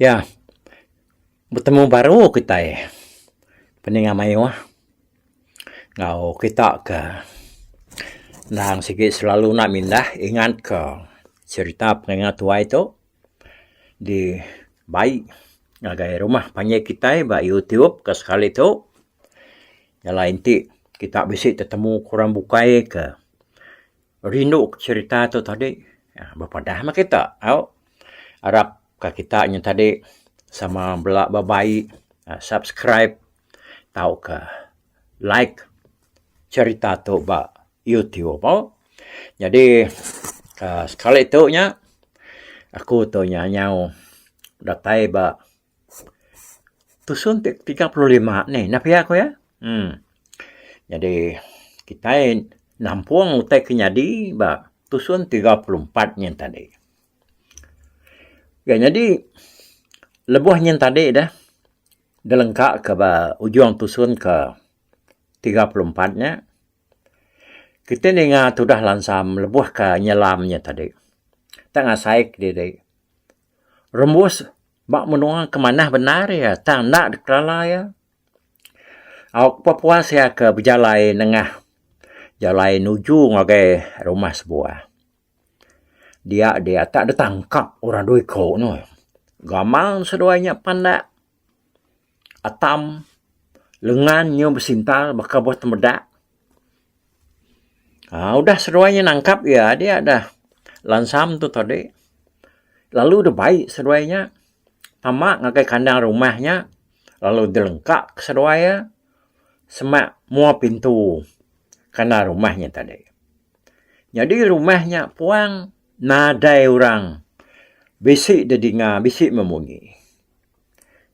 Ya, betemu baru kitai peninga mayuh enggau kitak ke endang sigi selalu nak mindah ingat ke cerita pengingat tuai tuk. Di bai ngagai rumah panggil kitai ba YouTube ke sekali tu jalai enti kita bisi tetemu ke orang bukai ke rindu ke serita tu tadi bepadah meh kita au arap ka kita nya tadi sama bela ba bai subscribe tauka. like cerita tu ba youtube oh jadi um sekali tu nya aku tu nya nyau datai ba tusun ti tiga puluh lima ni ina pia ku iya um jadi kitai nampung utai ke nyadi ba tusun tiga puluh empat nyin tadi. Ga nyadi lebuh nyin tadi dah Ngelengka ka ba ujung tusun ke tiga puluh empat nya, kitai ninga tudah lansa melebuh ka nyelam nya tadi. Tang ngasai ke diri, rembus ba menua ke manah bendar iya tang enda dikerala iya. Au ke pepuas iya ke bejalai nengah jalai nuju ngagai rumah sebuah. Dia dia tak ada tangkap orang dua iko no. Gamal seduai nya pandak atam lengan nyu besintal baka buah tempedak. Aaa udah seduai nya nangkap iya dia dah lansam tu tadi lalu deh bai seduai nya tama ngagai kandang rumah nya lalu deh lengka ke seduai iya semak mua pintu kandang rumah nya tadi. Nyadi rumah nya puang nadai orang bisi dedinga bisi memunyi.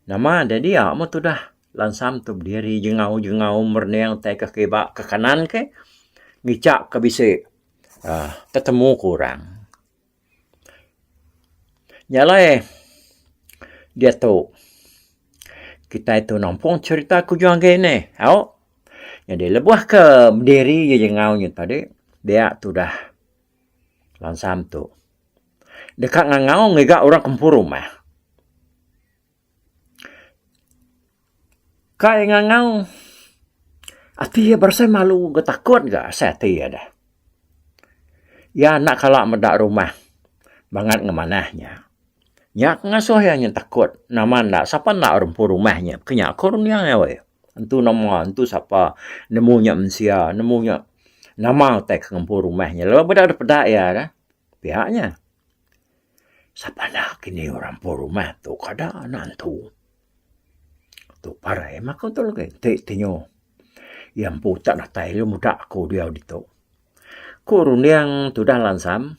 Nama deh dia meh tudah lansam tu bediri jengau-jengau merening tai ke kiba ke kanan ke ngichak ke bisi aaa tetemu ke orang. Nya alai diatu kitai tu nampung cherita ku juan agi ni. Au jadi lebuh ke diri iya jangau nya tadi dia tu dah bansa empu. Deka ngangau ngiga orang ke empu rumah. Kai ngangau ati iya berasai malu enggau takut ga asai ati iya deh. Iya anak kala meda rumah bangat enggau manah nya. Nya ke ngasuh iya nyin takut nama enda sapa enda orang empu rumah nya ke nya ko dunya ngagai. Entu nama entu sapa nemu nya mensia nemu nya nama utai ke ngempu rumah nya lalu meda dipeda iya deh. Pia nya. Sapa nya kini orang empu rumah tu kada anak entu. Tu parai mah aku tu lagi ti tingu. Iya empu tak datai lagi muda aku diau ditu. Ku runding tudah lansam,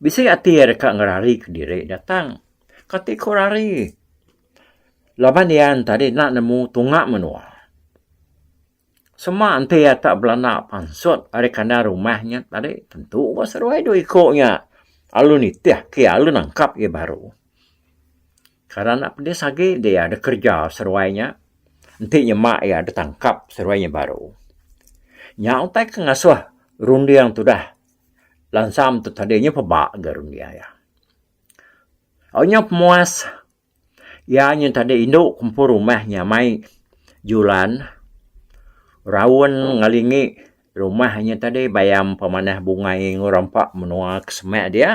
bisi ati iya deka ngerari ke diri iya tang. Kati ku rari. Laban iya enti tadi enda nemu tunga menua. Sema enti iya tak belanda pansut ari kandang rumah nya tadi tentu ba seduai dua iku nya lalu nitih ke iya lalu nangkap iya baru. Kada enda pedis agi deh iya deh kerja seduai nya enti nyema iya deh tangkap seduai nya baru. Nya utai ke ngasuh runding tudah lansam tu tadi nya peba ga runding iya. Au nya pemuas. Iya nyun tadi indu kumpul rumah nyamai julan raun ngelingi rumah inya tadi bayam pemanah bungai enggau rampa menua ke semak dia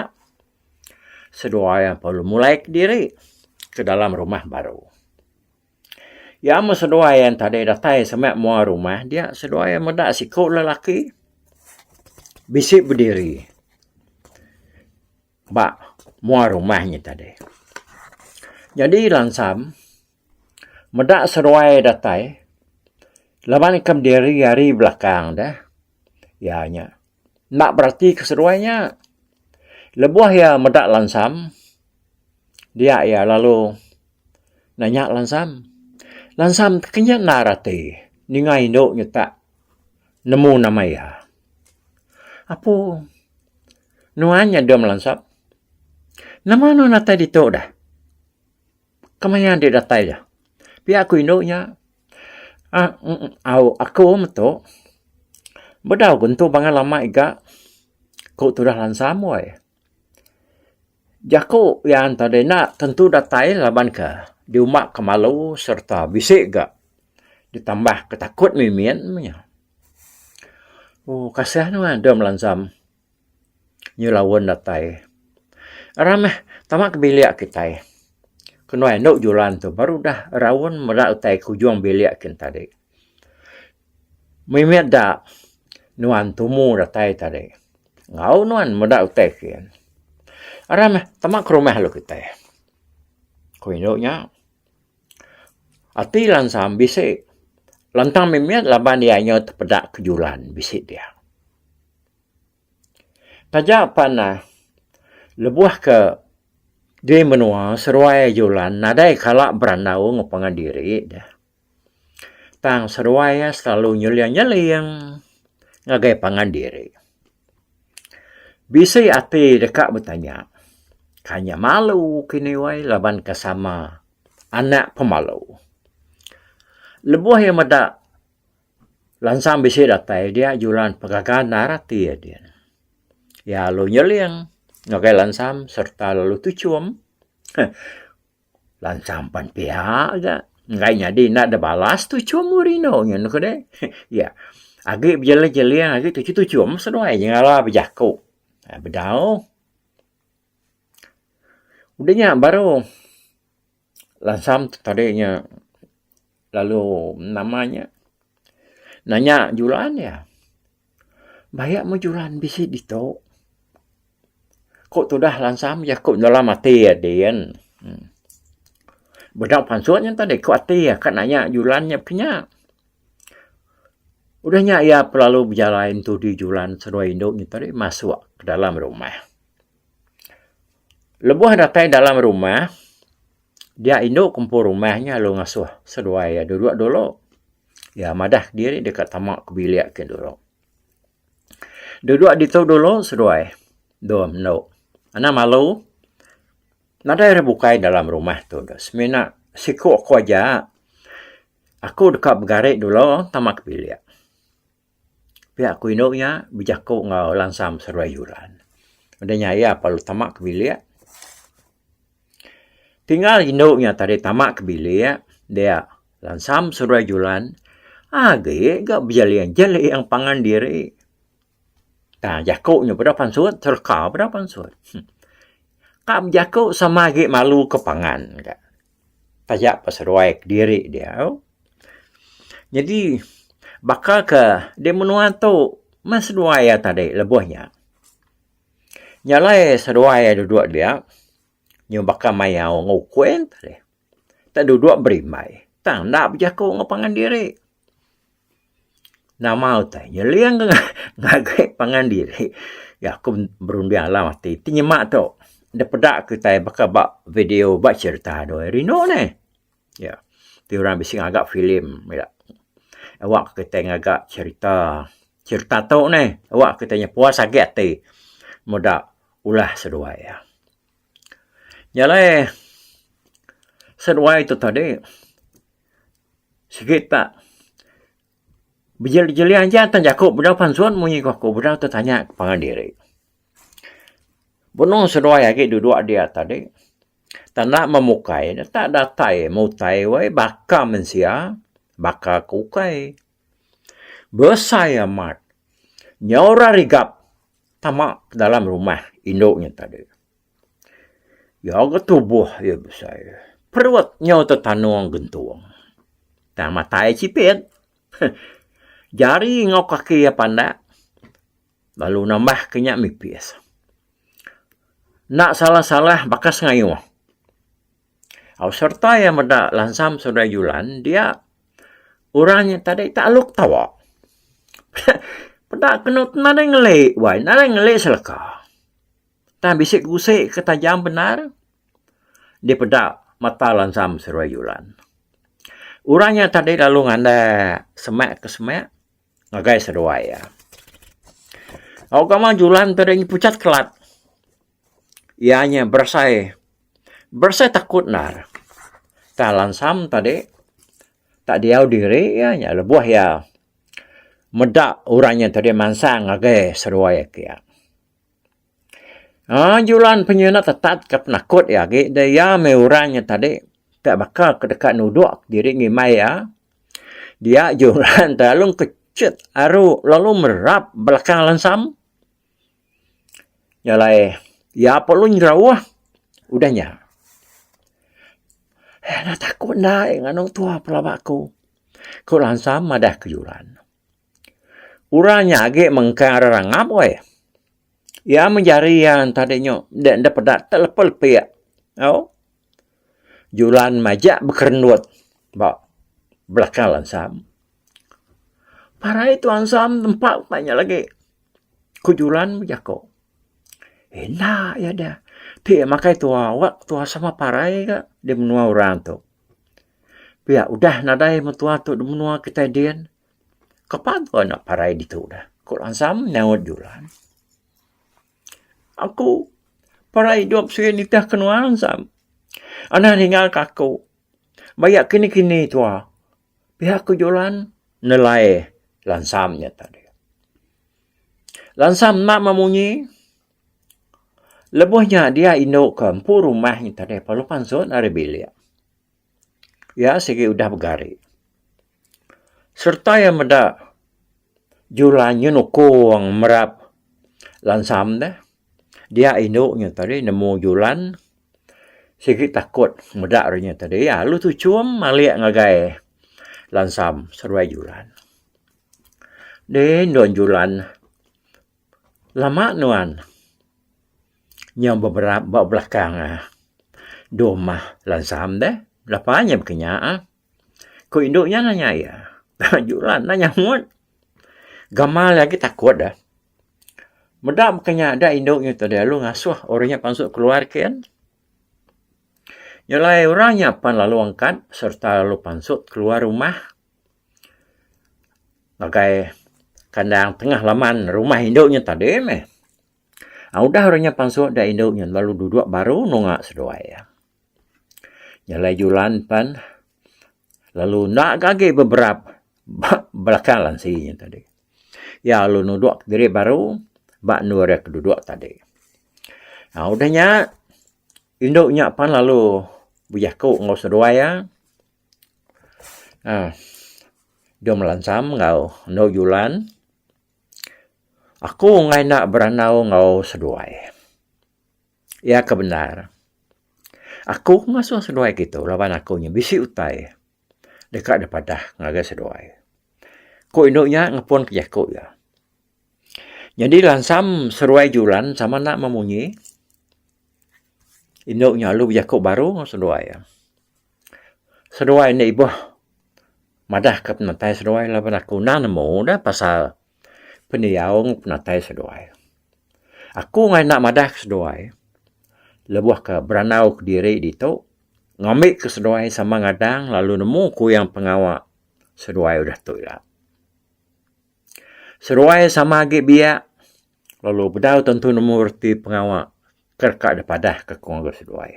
seduai iya baru mulai kediri ke dalam rumah baru. Iya meh seduai iya tadi datai semak mua rumah dia seduai iya meda siku lelaki bisi bediri. ba mua rumah nya tadi. Nyadi lansam meda seruai datai laban ikam diri ari belakang deh iya nya enda beratika seruai nya. Lebuh iya meda lansam dia iya lalu nanya lansam, Lansam ti kinya enda rati ninga indu nyutak nemu nama iya. Apu Nuan nya dua melansap. Nama nuan datai ditu dah? Kemaya enti datai iya? Pia ku indu nya. Ah, au aku metu. Bedau ku entu bangai lama iga, ku tudah lansam wai. Jaku iya enda dina tentu datai laban ke diumba ke malu sereta bisi ga ditambah ke takut mimin meh nya. Ooh kasah nuan deh melanjam nyu laun datai. Ra meh tama ke bilik kitai. Ke nuan enu julan tu baru udah raun meda utai ke ujung bilik kin tadi. Mih mih da nuan tumu datai tadi enggau nuan meda utai kiye. Aram mih tema ke rumah lu kitai. Ku indu nya ati langsam bisi lantang mih mih laban iya nyau tepeda ke julan bisi dia. Taja pan um lebuh ke diri menua seruai julan nadai kala berandau ngepungan diri deh. Tang seduai iya selalu nyeling-nyeling ngagai pangan diri. Bisi ati deka betanya, Kai nya malu ke ini wai laban ke sama anak pemalu. Lebuh iya meda lansang bisi datai dia juran pengaga endar ati iya dian. Iya lalu nyeling ngagai lansang sereta lalu tuchum. Lanchar empan piha ga. Enggai nyadi enda ada balas tuchum Mourinho nyen doh kede. Iya. Agi bejeling-jeling agi tuchum-tuchum seduai nya ngala bejaku. Ai bedau. Udah nya baru langsam tadi nya Lalu nama nya nanya juran iya, Baya mu juran bisi ditu? Ku tudah langsam iya ku dalam ati iya din. Bedau pansu nya tadi ku ati iya ka nanya juran nya pun nya. Udah nya iya pun lalu bejalai entudi juran seduai indu nya tadi masuk dalam rumah. Lebuh datai dalam rumah. Dia indu ke empu rumah nya lalu ngasuh seduai iya duduk dulu. Iya madah diri deka tama ke bilik ke dulu. Duduk ditu dulu seduai dua mendu. Anang malu nadai ira bukai dalam rumah tu deh. Semina siku aku aja. Aku deka begari dulu tama ke bilik. Pia ku indu nya bejaku enggau Lansam Seruai Yuran. Udah nya iya parlu tama ke bilik. Tinggal indu nya tadi tama ke bilik dia Lansam Seruai Yuran agi ga bejaling jaling pangan diri. Tang jaku nya peda pansut serka peda pansut. Ka bejaku sama agi malu ke pangan ka. taja ba seduai kediri dia tu nyadi baka ke di menua tu meh seduai iya tadi lebuh nya nyalai seduai iya dudok dia nyau baka mayau enggau ukung tah dudok berimbai tang enda bejaku enggau pangan diri. Nama utai nyeling ngagai pangan diri ya aku berunding alam ati ti nyema tu dep peda kitai baka ba video ba serita do hari eno neh ya ti orang bisi ngaga film ya awak kitai ngaga serita serita tu neh awak kitai puas agi ati meda ulah seduai. Nya alai seduai tu tadi sigi tak bejelih-jelih aja tan jaku bedau pensun munyi ku aku bedau tetanya ke pangan diri. Benung seduai agi duduk dia tadi tak enda memukai ne tak datai mutai wai baka mensia baka ke ukai. Besai amat. Nyau orang rigap tama ke dalam rumah indu nya tadi. Iya ga tubuh iya besai. Perut nyau tetanung gentung. Tang matai iya chipit. Jari enggau kaki iya pandak lalu nambah ke nya mipis. Enda salah-salah bakas ngayuh. Au serta iya meda lansam Saudara Julan dia orang nya tadi ita alu ketawa. Peda kenu tu nadai ngeli wai, nadai ngeli seleka. Tang bisi ke usi ke tajam bendar dipeda mata lansam Saudara Julan. Orang nya tadi lalu ngander semak ke semak ngagai seduai iya. Au gawa Julan tadi pucat kelat. iya nya berasai, berasai takut endar. Tang lansam tadi tak diau diri iya nya lebuh iya meda orang inya tadi mansang ngagai seduai agi iya. Aaa julan penyina tetat ka penakut iya agi dah iya mih orang inya tadi tak baka ke deka nudok diri ngimbai iya. Dia julan lalu kechit aru lalu merap belakang lansam. Nya alai iya pa lalu nyerauh udah nya enda taku enda nganu tuah pelaba aku ku lansa madah ke juran. Orang nya agi mengkang ari rangap weh. Iya meh jari iya entah deh nyu enda peda tek lepe lepe au juran majak bekerendut ba belakang lansa. Parai tuan sam nempa utai nya lagi. Ku Julan bejaku. Enda iya deh. Ti iya makai tuwa awak, tuwa sama parai ga di menua orang tu. Pia udah nadai meh tuwa tu di menua kitai din. Kapa tuwa enda parai ditu deh? Ku Langsam nyaut Julan. Aku parai idup sien nitih kenoa Langsam. Anih ninga ka aku. Baya kini-kini tuwa. Pihak ke julan nelai lansam nya tadi. Lansam enda memunyi. Lebuh nya dia indu ke empu rumah nya tadi lalu pansut ari bilik. Iya sigi udah begari. Sereta iya meda julan nya nukung merap lansam deh. Dia indu nya tadi nemu julan. Sigi takut meda orang inya tadi lalu tu chum malik ngagai lansam seduai julan. Deh endo julan lama nuan nya ba belakang deh mah lansam deh. Lepa nya baka nya. Ku indu nya nanya iya. Juran nanya mut. Gamal iya agi takut dah. Meda maka nya da indu nya tu lalu ngasuh orang nya pansut keluar kin. Nyelai orang nya pan lalu angkat sereta lalu pansut keluar rumah ngagai kandang tengah laman rumah indu nya tadi meh. Udah orang nya pansut da indu nya lalu duduk baru nunga seduai iya. Jalai julan pan lalu enda ga agi beberap ba belakang lansi nya tadi. Iya lalu nudok diri baru ba endur iya ke dudok tadi. Nah udah nya indu nya pan lalu bejaku enggau seduai iya aaa deh melansam enggau endur julan, Aku enggai enda berandau enggau seduai. Iya ke bendar. Aku ngasuh seduai kitu laban aku nya bisi utai deka dipadah ngagai seduai. Ku indu nya ngepunka jaku iya. Nyadi lansam seduai Julan sama enda meh munyi. Indu nya lalu bejaku baru ngan seduai iya. Seduai enda ibuh madahka penatai seduai laban aku enda nemu dah pasal. pendiau enggau penatai seduai. Aku angai enda madah ke seduai lebuh ke berandau kediri ditu ngambi ke seduai sama ngadang lalu nemu kuyang pengawa seduai udah tu ila. Seduai sama agi biak lalu bedau tentu nemu reti pengawa ke deka dipadah ke aku ngagai seduai.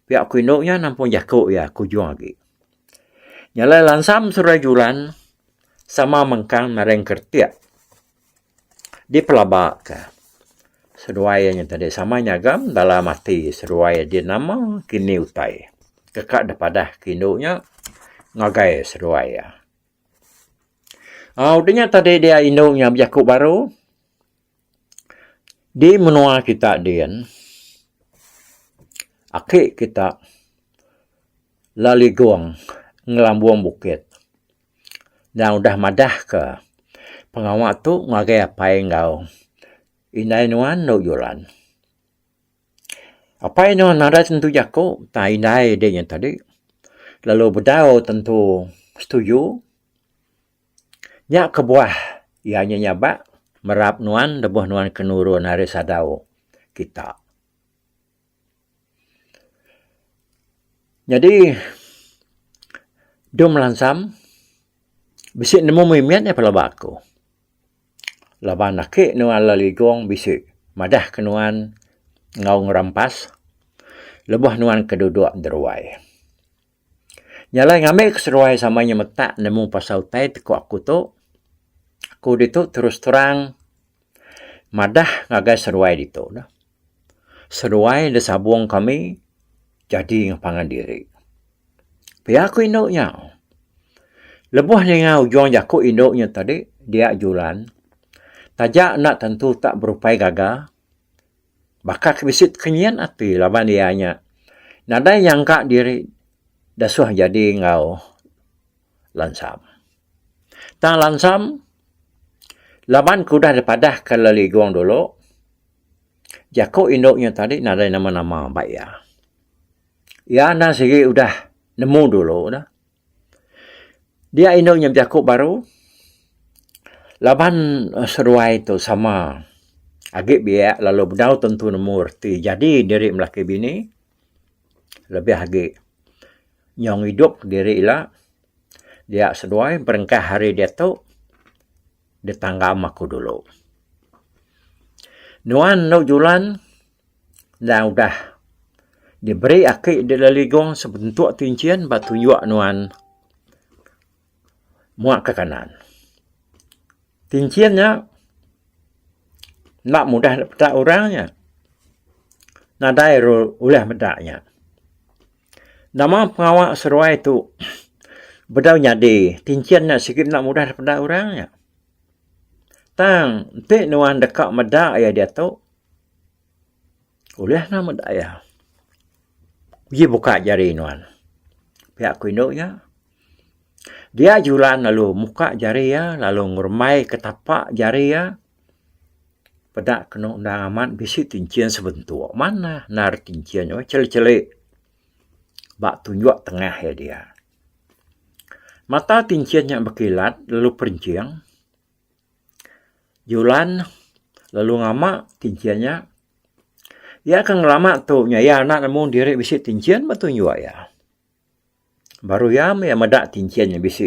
Pia aku indu nya nampung jaku iya ke ujung agi. Nya alai lansam seruai juran sama mengkang naring keretik dipelaba ka seduai iya nya tadi sama nyagam dalam ati seduai di nama kini utai teka da padah ke indu nya ngagai seduai iya. Au dinya tadi dia indu nya bejaku baru. Di menua kita din, aki kita laligong ngelambung bukit nya udah madah ke pengawa tu ngagai apai enggau indai nuan dau juran. Apai nuan nadai tentu jaku tang indai dinya tadi lalu bedau tentu setuju. Nya kebuah iya nya nyabak merap nuan lebuh nuan ke nurun ari sadau kita. Nyadi dum lansam bisi nemu mimit iya pelaba aku. Laban ake nuan Legong bisi madah ke nuan enggau ngerampas lebuh nuan ke dudok deruai. Nya alai ngambi aku seruai sama inya metak nemu pasal utai ti ku aku tu, aku ditu terus terang madah ngagai seruai ditu neh. Seruai da sabung kami jadi ngan pangan diri. Pia ku indu nya. Lebuh ninga ujung jaku indu nya tadi dia julan taja enda tentu tak berupai gaga. Baka ke bisi kenyit ati laban iya nya nadai nyangka diri disuh nyadi enggau lansam. Tang lansam laban ke udah dipadahka le ligong dulu jaku indu nya tadi nadai nama-nama ba iya. Iya enda sigi udah nemu dulu dah. Dia inu nya biaku baru laban seduai tu sama agi biak lalu bedau tentu nemu reti jadi diri laki bini lebih agi nyong idup diri ila dia seduai berengkah ari diatu. di tanggam aku dulu. Nuan endu julan enda udah diberi aki di leligong sebentuk ti enchin ba tunjuk nuan mua ke kanan. Ti enchin nya enda mudah dipeda orang nya. Nadai ru ulih meda nya. Nama pengawa seruai tu bedau nyadi tinchin nya sigi enda mudah dipeda orang nya. Tang enti nuan deka meda iya diatu ulih nuan meda iya. Uji buka jari nuan. Pia ku indu nya dia julan lalu muka jari iya lalu ngerumbai ke tapa jari iya. Peda kenu undang amat bisi ti enchin sebentuk manah endar ti enchin neh cheli-cheli ba tunjuk tengah iya dia. Mata ti enchin nya bekilat lalu perinching julan lalu ngama ti enchin nya iya ke ngelama tu nya iya anak nemu diri bisi ti enchin ba tunjuk iya. baru iya meh meda ti enchin iya bisi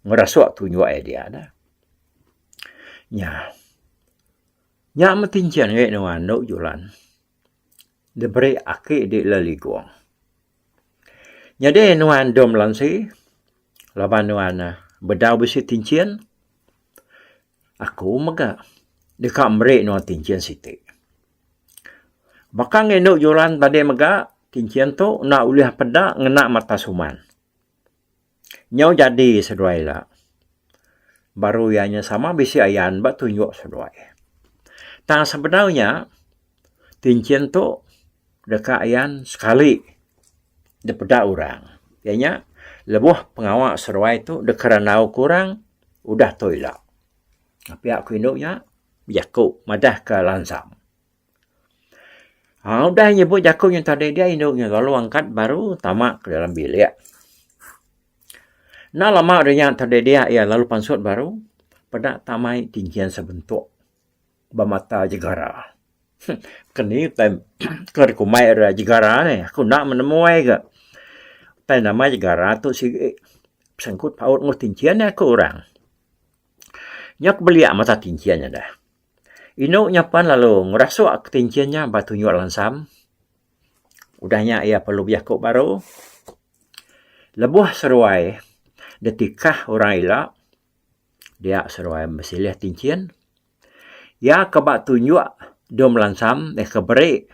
ngerasuk tu juwa iya dia dah. Nya. Nya meh ti enchin ngagai endu andu julan diberi aki di leligong. Nyadi nuan dom lansi laban nuan bedau bisi ti enchin Aku mega deka meri nuan kinchin siti. Baka ke enu juran tadi mega, kinchin tu enda ulih peda ngena mata suman. Nyau jadi seduai ila. Baru iya nya sama bisi ayan ba tunjuk seduai. Tang sebenar nya. Ti enchin tu deka iyan sekali dipeda orang iya nya lebuh pengawa seruai tu deka randau ku orang udah tu ila pia ku indu nya bejaku madah ka langsam aaa udah nyebut jaku nya tadi dia indu nya lalu angkat baru tama ka dalam bilik enda lama rinya tadi dia iya lalu pansut baru peda tamai ti enchin sebentuk. ba mata Jegara. Ke ni utai ke dikumbai ira Jegara ni? Aku enda menemu ai ga. Utai nama Jegara tu sigi besangkut paut enggau tinchin nya ku orang. Nya ku belia mata tinchin nya deh. Inu nya pen lalu ngerasuk tinchin nya ba tunjuk lansam. Udah nya iya perlu bejaku baru. Lebuh seruai ditikah orang ila dia seruai besilih tinchin. Iya ke ba tunjuk Dom Lansam deka beri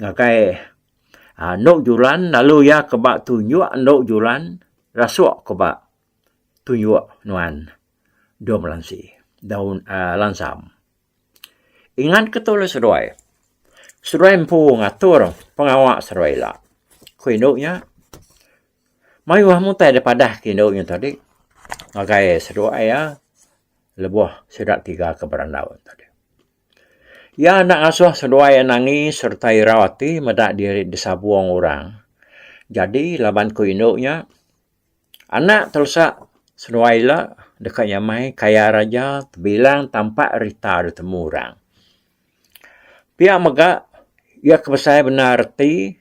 ngagai anu julan lalu iya ke ba tunjuk anu julan rasuk ke ba tunjuk nuan Dom Lansi Daun aaa Lansam. Ingat ke tu lalu seduai. Seduai empu ngatur pengawa seduai ila. Ku indu nya Mayuh mutai da padah ti indu nya tadi ngagai seduak iya lebuh sida tiga ke berandau nya tadi. Iya enda ngasuh seduai iya nangi sereta irau ati meda diri disabung orang. Jadi laban ku indu nya anak terusak seduai ila deka nyamai kaya raja tebilang tampak rita ditemu orang. Pia mega iya ke besai bendar reti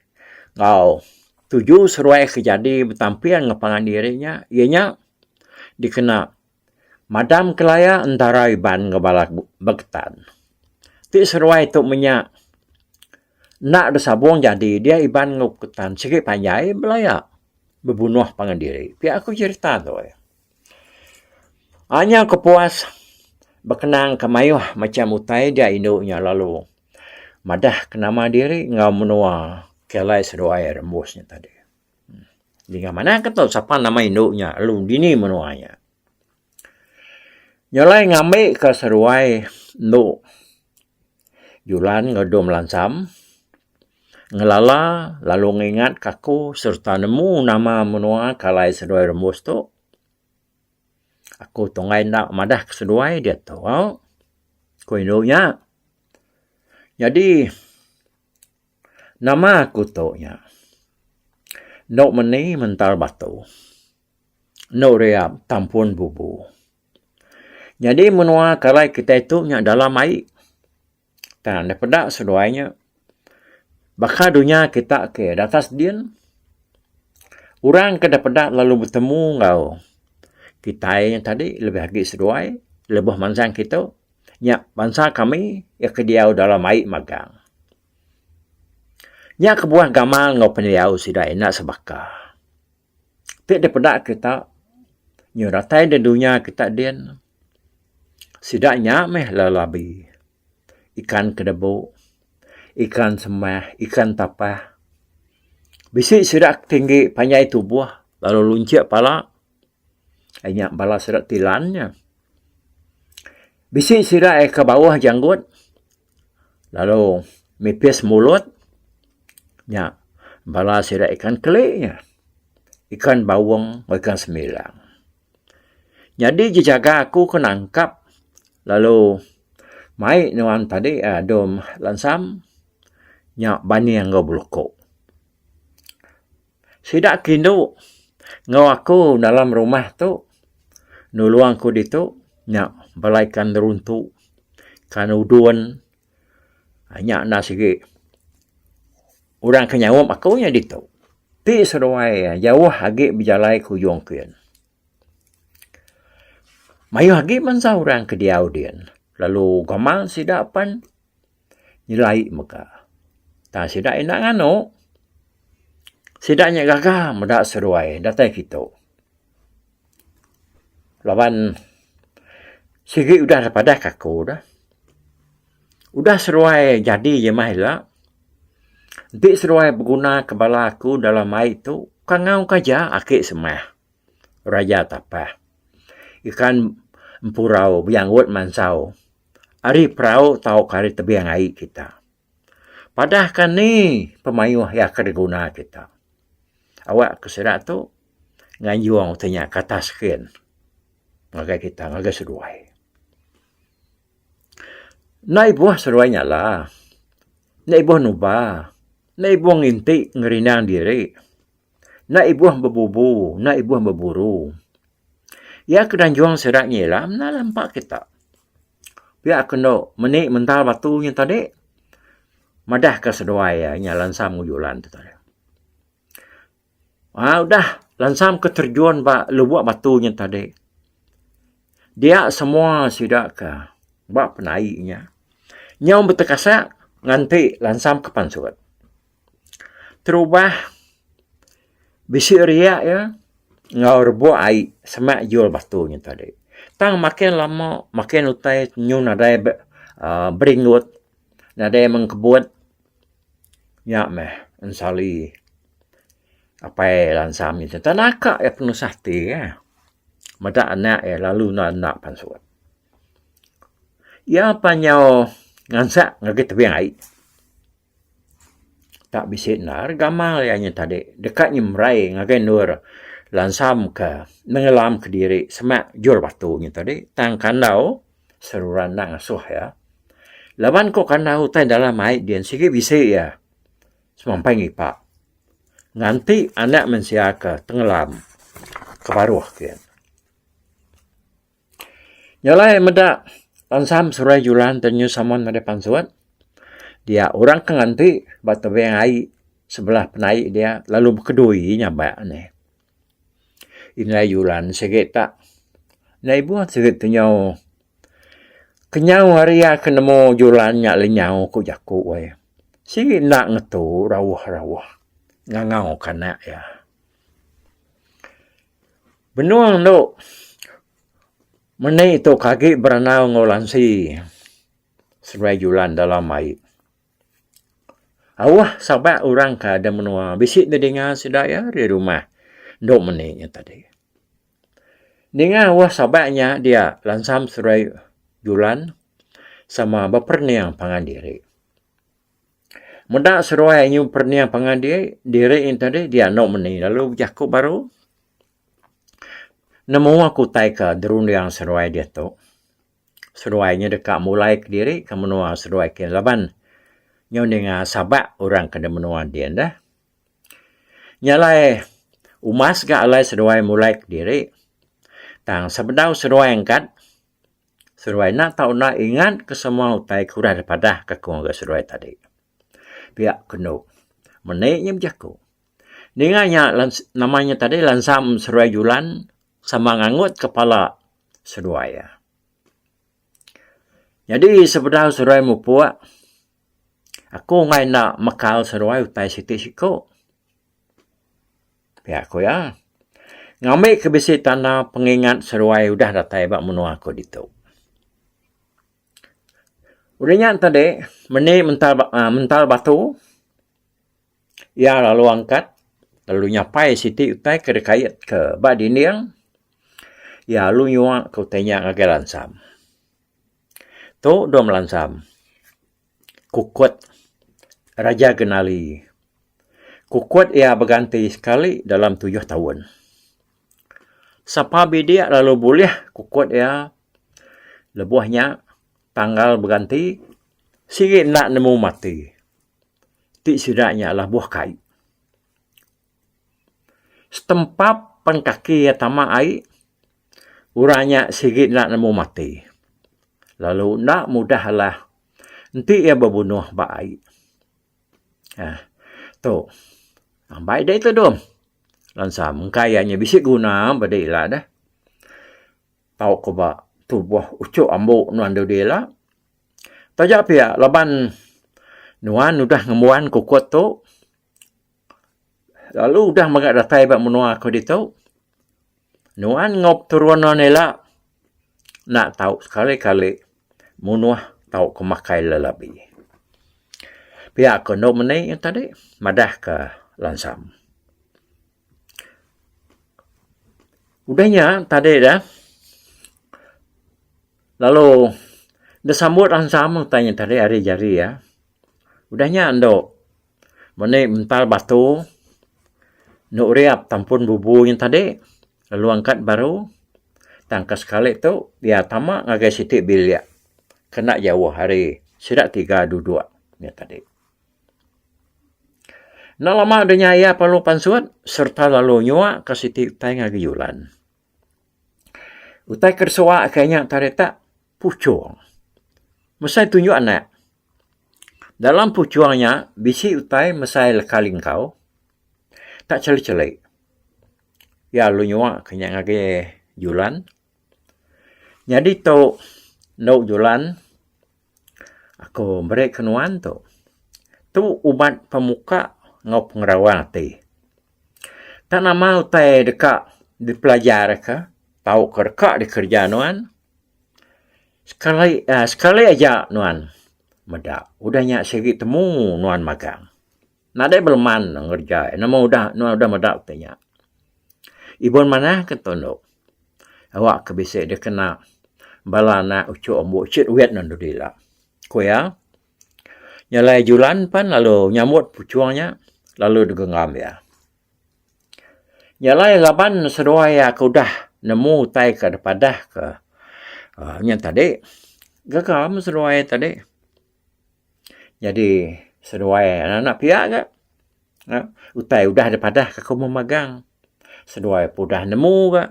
enggau tuju seduai ke jadi betamping enggau pangan diri nya iya nya dikena madam ke laya entara Iban enggau bala beketan. Ti seduai tu menya enda besabung jadi dia Iban enggau beketan sigi panjai belaya bebunoh pangan diri. Pia ku cerita tu. Aaa nyau aku puas bekenangka mayuh macam utai ja indu nya lalu madahka nama diri enggau menua ke alai seduai rembus nya tadi. Dinga manah ke tu sapa nama indu nya lalu dini menua nya. Nya alai ngambika seduai endu. Julan enggau dom lansam ngelala lalu ngingat ka aku sereta nemu nama menua ke alai seduai rembus tu. Aku tunggai enda madah ke seduai diak tu ku indu nya. Nyadi nama aku tu nya endo meni mentar batu. Endo ria tampun bubu. Nyadi menua kalai kitai tu nya dalam ai. Tang enda peda seduai nya baka dunya kita ke datas din orang ke enda peda lalu betemu enggau kitai nya tadi lebih agi seduai lebuh mansang kitu nya bansa kami iya ke diau dalam ai magang. Nya kebuah gamal enggau pendiau sida ina sebaka. Ti dipeda kita nyau datai da dunya kita din sida nya meh lelabi ikan kelebu ikan semah ikan tapah bisi sida ke tinggi panjai tubuh lalu lunchi pala inya bala sida ti lan nya bisi sida ke bauh janggut. lalu mipis mulut nya bala sida ikan keli nya ikan baung enggau ikan semilang nyadi ji jaga aku ke nangkap lalu mai nuan tadi um dom lansam nya baning enggau beluko. Sida ke indu enggau aku dalam rumah tu nulung aku ditu nya bala ikan neruntu, ikan udon nya enda sigi orang ke nyaup aku nya ditu. Ti seduai jauh agi bejalai ke ujung kian. Mayuh agi bansa orang ke diau dian lalu gamal sida pan. nyelai mega. Tang sida enda nganu. Sida nya gaga meda seruai datai kitu. Laban sigi udah da padah ke aku da. Udah seruai jadi je meh ila. Enti seruai beguna ke bala aku dalam ai tu, kangau ke aja aki semeh. Raja Tapah. Ikan empurau bejanggut mansau ari perau tauka ari tebing ai kita. Padahka ni pemayuh iya ke diguna kita. Awakka sida tu nganjung ti nya ke atas skin ngagai kita ngagai seduai. Enda ibuh seduai nyala, enda ibuh nuba, enda ibuh nginti ngerindang diri. Enda ibuh bebubu, enda ibuh beburu. Iya ke danjung sida nyilam enda lah empa kita. Pia ke endo meni mental batu nya tadi madah ke seduai iya nya lansam ngu julan tu tadi. Aa udah lansam ke terjun ba lubok batu nya tadi dia semua sida ke ba penai nya nyau betekasak nganti lansam ke pansut. terubah bisi ria iya enggau rebuk ai semak jul batu nya tadi. Tang makin lama makin utai nyuh nadai aaa beringut nadai meng kebut nya meh ensali apai lansa ami ti enda naka iya penusah ti eh meda anak iya lalu enda enda pansut. Iya pan nyau ngansak ngagai tebing ai. Tak bisi endar gamal iya nya tadi deka nyemerai ngagai endur lansamka nengelamka diri semak jul batu nya tadi tang kandau seruran enda ngasuh iya. Laban ko kandau utai dalam ai din sigi bisi iya semampai ngipak nganti anak mensia ke tengelam ke baruh kiye. Nya alai meda pansam Surai Julan te New Salmond meda pansut dia orang ke nganti ba tebing ai sebelah penai dia lalu bekedui iya nyabak neh. Indai Julan sigi tak enda ibuh sigi kenyau kenyau hari iya ke nemu Julan nya lenyau ku jaku ai. Sigi enda ngetu rauh-rauh ngangau ke anak iya. Benung endo meni tu ke agi berenang enggau lansi sebelah julan dalam ai. Auh saba orang ke ada menua bisi da dinga sida iya ari rumah endo meni nya tadi. Dinga auh saba nya dia lansam sebelah julan sama beperening pangan diri. Meda seruai nyu perniah pangan diri, diri nyu tadi dia anu meni lalu bejaku baru. Nemu aku utai ke derunding seruai diatu. Seruai nyu deka mulai kediri ke menua seduai ke laban nyu ninga sabak orang ke di menua din deh. Nya alai umas ga alai seduai mulai kediri tang sebedau seduai engkat. Seruai enda tau enda ingat ke semua utai ke udah dipadah ke aku ngagai seruai tadi. Pia ke enu. Meni nya bejaku. Ninga nya nama nya tadi lansam seruai julan sama ngangut kepala seruai. Nyadi sebedau seruai mupuk aku angai enda mekal seruai utai siti siku. Pia ku iya, ngambi ke bisi tanda pengingat seruai udah datai ba menua aku ditu. Udah nya enta dek, meni mental uhh mental batu, iya lalu angkat lalu nyapai siti utai ke dikait ke ba dinding, iya lalu nyuaka utai nya ngagai lansam. Tu dua melansam. Kukut Raja Genali. Kukut iya beganti sekali dalam tujuh taun. Sapa bidik lalu bulih kukut iya lebuh nya tanggal beganti sigi enda nemu mati. Ti sida nya labuh kai. Setempap pen kaki iya tama ai, orang nya sigi enda nemu mati. Lalu enda mudah alah enti iya bebunuh ba ai. Nah, tu. Ambai dei tudung. Lansam engkai iya nya bisi guna ba diri ila deh. Tau ko ba tuboh uchok ambo nuan dudi ila. Taja pia laban nuan udah ngembuan kokot tu. Lalu udah mega datai ba menua aku ditu, nuan enggau peturun nuan ila enda tau sekali kali munuh tau ke makai lelabi. Pia ko endo meni nya tadi madah ka lansam. Udah nya tadi da lalu da sambut lansam utai nya tadi hari jari iya udah nya endo. Meni mental batu enda uriap tang pun bubu nya tadi lalu angkat baru tang ke sekali tu iya tama ngagai siti bilik ke enda jauh ari sida tiga duduk nya tadi. Enda lama deh nya iya lalu pansut sereta lalu nyuak ke siti utai ngagai julan. Utai ke disuak ke nya tadi tu. Puchung. Mesai tunjuk anak. Dalam puchung nya bisi utai mesai leka lingkau. Tak cheli-cheli. Iya lalu nyua ke nya ngagai Julan. Nyadi tu endu Julan aku meri ke nuan tu. Tu ubat pemuka enggau pengerawang ati. Tak nama utai deka dipelajarka tauka deka dikereja nuan. Sekali aaa sekali aja nuan meda udah nya sigi temu nuan magang. Nadai beleman nuan ngereja iya nama udah nuan udah meda ti nya. Ibun manah ke ento endo awa ke bisi deh kena bala anak uchu ambu uchu duit nuan dudi ila. Ku iya nya alai julan pan lalu nyambut puchung nya lalu degengam iya. Nya alai laban seduai aku udah nemu utai ke da padah ke aaa nya tadi gaga meh seduai tadi nyadi seduai anak pia ga utai udah da padah ke aku meh magang seduai pun udah nemu ga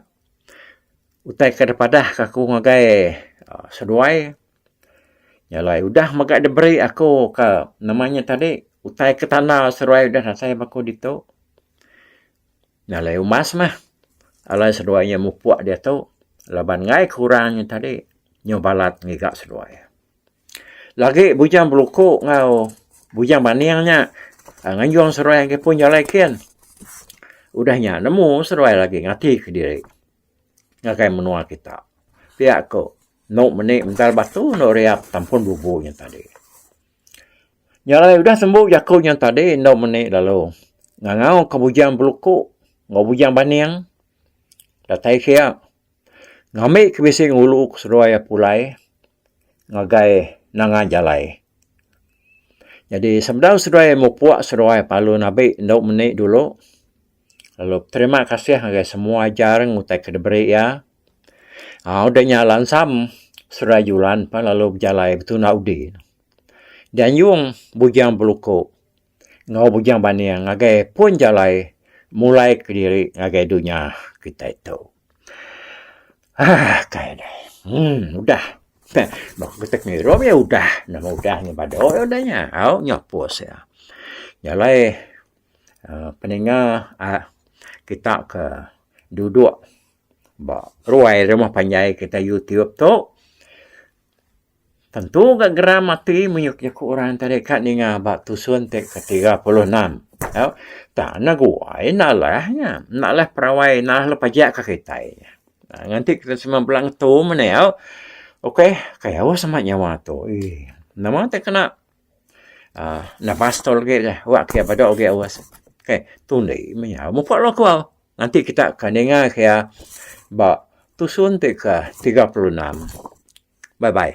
utai ke da padah ke aku ngagai seduai. Nya alai udah mega diberi aku ke nama nya tadi utai ke tanda seduai udah nasai ba aku ditu. Nya alai umas meh alai seduai nya mupuk diatu laban ngai ke orang nya tadi nyau balat ngiga seduai. Lagi bujang beluku enggau bujang baning nya nganjung seduai agi pun jalai kin. Udah nya nemu seduai lagi ngatike diri ngagai menua kita. Pia ku. Endo meni mental batu endo riap tampun bubu nya tadi. Nya alai udah sembu jaku nya tadi endo meni lalu ngangau ka bujang beluku enggau bujang baning datai kia ngambi ke bisi ngulu ke seduai iya pulai ngagai nanga jalai. Jadi sebedau seduai mupuk seduai palun abi endo meni dulu. Lalu beterima kasih ngagai semua ajar ngutai ke diberi iya. Aaa udah nya lansam Saudara Julan pan lalu bejalai betunda udi. Dianjung Bujang Beluko enggau Bujang Baning ngagai pun jalai mulai kediri ngagai dunya kitai tu. Aaa kai deh. Emm udah. Heh baka kita pengirup iya udah. Nama udah nya badu udah nya. Au nyapus iya. Jalai. uhh peninga uhh kita ke duduk ba ruai rumah panjai kita youtube tu tentu ga geram ati mayuh jaku orang enti deka ka ninga ba tusun ti ke tiga puluh enam tu tang ne guai ne alah nya enda alah perawai enda alah lu pajak ka kitai ngan ti kita semua bela ngetu mene au okay kayau sama nyawa tu eii nama ti kena. uhh enda pastor agi lah wak kiya peda agi awas keh tundi menyau muka law kuaw nganti kita ke ninga kiya ba tusun ti ke tiga puluh enam bye bye.